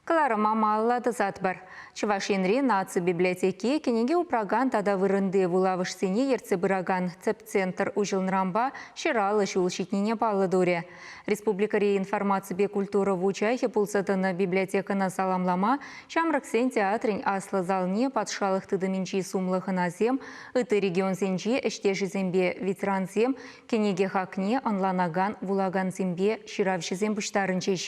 Кӑларӑма малалла тӑсатпӑр. Чӑваш Енри наци библиотеки кӗнеке упракан тата вырӑнти вулавӑшсене ертсе пыракан тӗп центр уҫӑлнӑранпа ҫӑраллӑ ҫул ҫитнине паллӑ турӗ. Республикӑри информаципе культура вучахӗ пулса тӑнӑ библиотекӑна саламлама Ҫамрӑксен театрӗн аслӑ залне патшалӑх тытӑмӗнчи сумлӑ хӑнасем, ытти регионсенчи ӗҫтешӗсемпе ветерансем, кӗнеке хакне ӑнланакан вулакансемпе ҫыравҫӑсем пуҫтарӑнчӗҫ.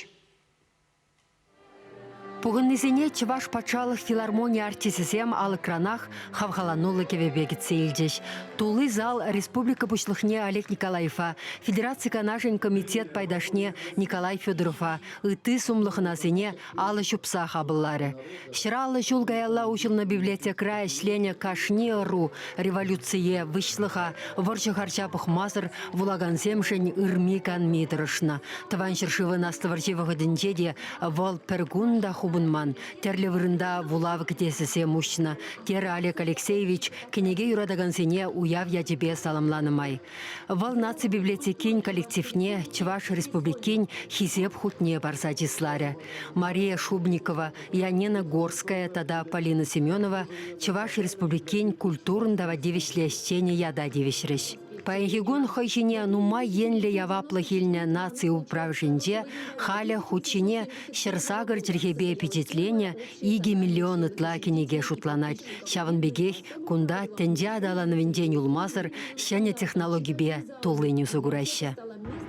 Пухӑннисене Чӑваш патшалӑх филармони артисӗсем алӑкранах хавхалануллӑ кӗвӗпе кӗтсе илчӗҫ. Тулли зал республика Пуҫлӑхне Олег Николаевпа, Федераци Канашӗн Комитет пайташне Николай Федорова, ытти сумлӑ хӑнасене алӑ ҫупса хапӑлларӗ. Ҫӗр-аллӑ ҫул каялла уҫӑлнӑ библиотекӑра ӗҫленӗ кашни ӑру революцие, выҫлӑха, вӑрҫӑ харҫа пӑхмасӑр вулакансемшӗн ырми-канми тӑрӑшнӑ. Тӑван ҫӗршывӑн Аслӑ вӑрҫи вӑхӑтӗнче те вӑл пӗр кун та хупӑнман, тӗрлӗ вырӑнта вулав кӗтесӗсем уҫнӑ, терӗ Олег Алексеевич кӗнеке юратакансене уяв ячӗпе саламланӑ май. Вӑл наци библиотекин коллективне Чӑваш Республикин Хисеп хутне парса чысларӗ. Мария Шубникова, Янина Горская тата Полина Семенова Чӑваш Республикин культурӑн тава тивӗҫлӗ ӗҫченӗ ята тивӗҫрӗҫ. Паянхи кун хӑй ҫине нумай енлӗ яваплӑх илнӗ наци управӑшӗнче халӗ хут ҫине ҫӗр-сакӑр чӗлхепе пичетленӗ икӗ миллион ытла кӗнеке шутланать. Ҫавӑн пекех Кунта тӗнче аталанӑвӗнчен юлмасӑр ҫӗнӗ технологипе туллин усӑ кураҫҫӗ.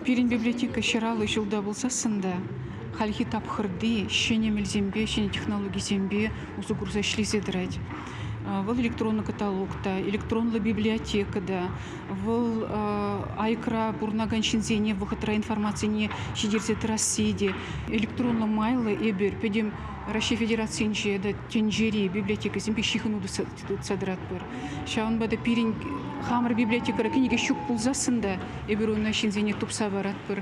Пирӗн библиотека ҫӑраллӑ ҫулта пулсассӑн та хальхи тапхӑрти ҫӗнӗ мелсемпе, ҫӗнӗ технологисемпе усӑ курса ӗҫлесе тӑрать. Вӑл электронлӑ каталог та, электронлӑ библиотека та, вӑл айкра пурӑнакан ҫынсене вӑхӑтра информацине ҫитерсе тӑрасси те, электронлӑ майлӑ эпир пӗтӗм Раҫҫей Федерацийӗнче тата тӗнчери библиотекӑсемпе ҫыхӑну тытса тӑратпӑр. Ҫавӑнпа та пирӗн хамӑр библиотекӑра кӗнеке ҫук пулсассӑн та эпир ӑна ҫынсене тупса паратпӑр.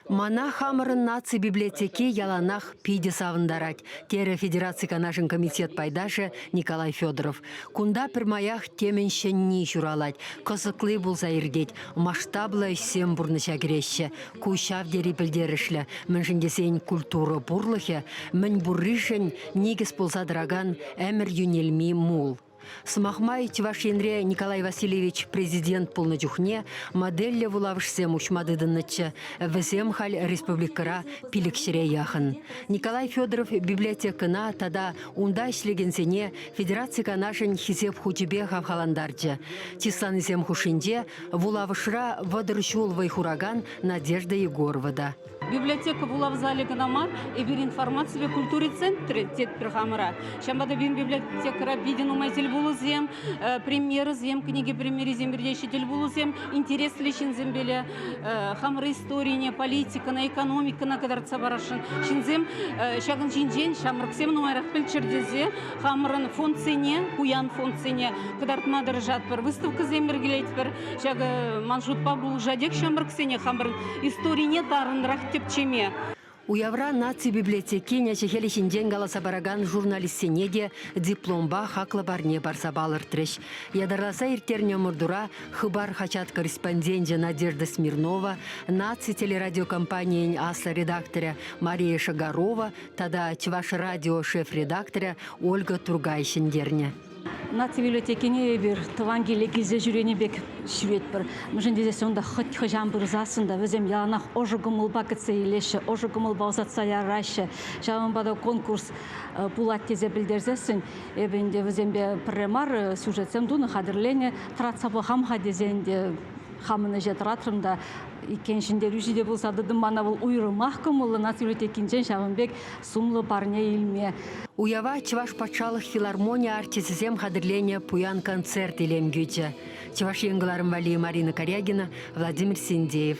Мана хамӑрӑн наци библиотеки яланах питӗ савӑнтарать, терӗ Федераци Канашӗн комитет пайташӗ Николай Федоров. Кунта пӗрмаях темӗн ҫӗнни ҫуралать, кӑсӑкли пулса иртет, масштаблӑ ӗҫсем пурнӑҫа кӗреҫҫӗ. Ку ҫав тери пӗлтерӗшлӗ, мӗншӗн тесен культура пурлӑхӗ мӗн пурришӗн никӗс пулса тӑракан ӗмӗр йӳнелми мул. Сӑмах май, Чӑваш Енре Николай Васильевич президент пулнӑ чухне модельлӗ вулавӑшсем уҫма тытӑннӑччӗ. Вӗсем халь республикӑра пилӗкҫӗре яхӑн. Николай Федоров библиотекӑна тата унта ӗҫлекенсене федераци канашӗн Хисеп хучӗпе хавхалантарчӗ. Чысланисем хушшинче Вулавӑшра вӑтӑр ҫул вӑй хуракан Надежда Егорова та. Библиотека вулав залӗ кӑна мар, эпир информаципе культура центрӗ тетпӗр хамӑра. Ҫавӑнпа та пирӗн библиотекӑра питӗ нумай тӗлпулусем, э, премьерӑсем, кӗнеке премьерисем иртеҫҫӗ тӗлпулусем интереслӗ ҫынсемпе ле э, хамӑр историне, политикӑна, экономикӑна кӑтартса парасшӑн ҫынсем э, ҫакӑн ҫинчен ҫамрӑксем нумайрах пӗлччӗр тесе хамӑрӑн фондсене, пуян фондсене кӑтартма тӑрӑшатпӑр, выставкӑсем йӗркелетпӗр. Ҫакӑ ман шутпа пулӑшатех ҫамрӑксене хамӑрӑн историне тарӑнрах тӗпчеме. Уявра наци библиотекин ӗҫӗ-хӗлӗ ҫинчен каласа паракан журналистсене те дипломпа хаклӑ парне парса палӑртрӗҫ. Ятарласа ирттернӗ ӑмӑртура Хыпар хаҫат корреспонденчӗ Надежда Смирнова, наци телерадиокомпанийӗн аслӑ редакторӗ Мария Шагарова тата Чӑваш радио шеф редакторӗ Ольга Тургай ҫӗнтернӗ. Наци библиотекине эпир тӑван киле килсе ҫӳренӗ пек ҫӳретпӗр. Мӗншӗн тесен унта хӑть хӑҫан пырсассӑн та вӗсем яланах ӑшӑ кӑмӑлпа кӗтсе илеҫҫӗ, ӑшӑ кӑмӑлпа ӑсатса яраҫҫӗ. Ҫавӑнпа та конкурс пулать тесе пӗлтерсессӗн эпӗ ӗнтӗ вӗсемпе пӗрре мар сюжетсем тунӑ, хатӗрленӗ. Тӑратса пӑхам-ха тесен те хамӑн ӗҫе тӑратрӑм та иккен ҫӗнтерӳҫӗ те пулса тӑтӑм мана вӑл уйрӑмах кӑмӑллӑ наци библиотекинчен ҫавӑн пек сумлӑ парне илме. Уява Чӑваш патшалӑх филармони артисӗсем хатӗрленӗ пуян концерт илем кӳчӗ. Чӑваш Ен кӑларӑм валли Марина Корягина, Владимир Синдеев.